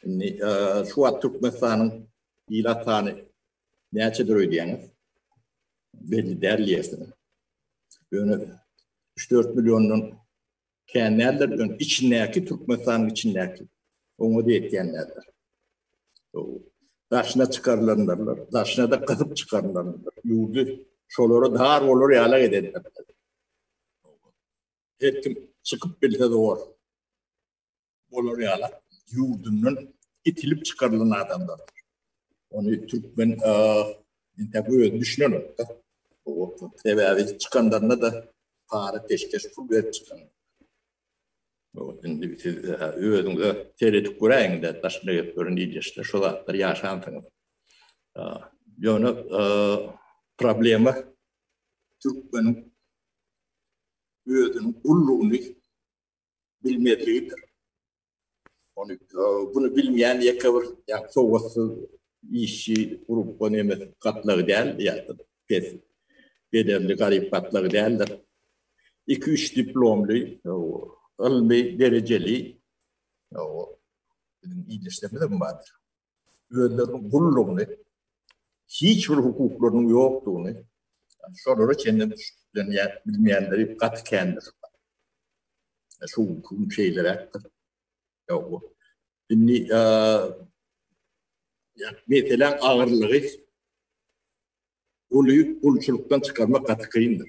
Indi şu wagt Türkmenistanyň ilat sany näçedir öýdýäňiz? Belli däl diýersiň. Ýöne 3-4 milliondan kän däldir, ýöne içindäki Türkmenistanyň içindäki oňa diýýän däldir. Daşyna çykarylanlarlar, daşyna da gyzyp çykarylanlar. Ýurdy şolara dar bolar ýaly edenler. Her kim çykyp bilse zor. Olar ýala ýurdundan itilip çykarylan adamlar. Ony türkmen intep özi düşünenok da. Sebäbi çykanlarynda da para peşkeş pul berip çykan. Indi siz özüňize seredip göräýiňde daşyna gelip görün ildeşde şu zatlar ýaşansyňyz. Ýöne problema türkmeniň özüniň gullugyny bilmezligidir. Onu e, bunu bilmeýän ýeke bir ýa sowatsyz işçi grupga nemes gatlagy däl ýa-da pes bedelli garyp gatlagy däldir. 2-3 diplomly e, ylmy derejeli e, biziň ildeşlerimiz hem bardyr. özleriniň gullugyny, hiç bir hukuklarynyň ýokdugyny şolara çenli düşünýän, bilmeýänleri gaty kändir. Şu gün şeýleräkdir. Ýok. Indi meseleň agyrlygy uly gulçulykdan çykarmak gaty kyndyr.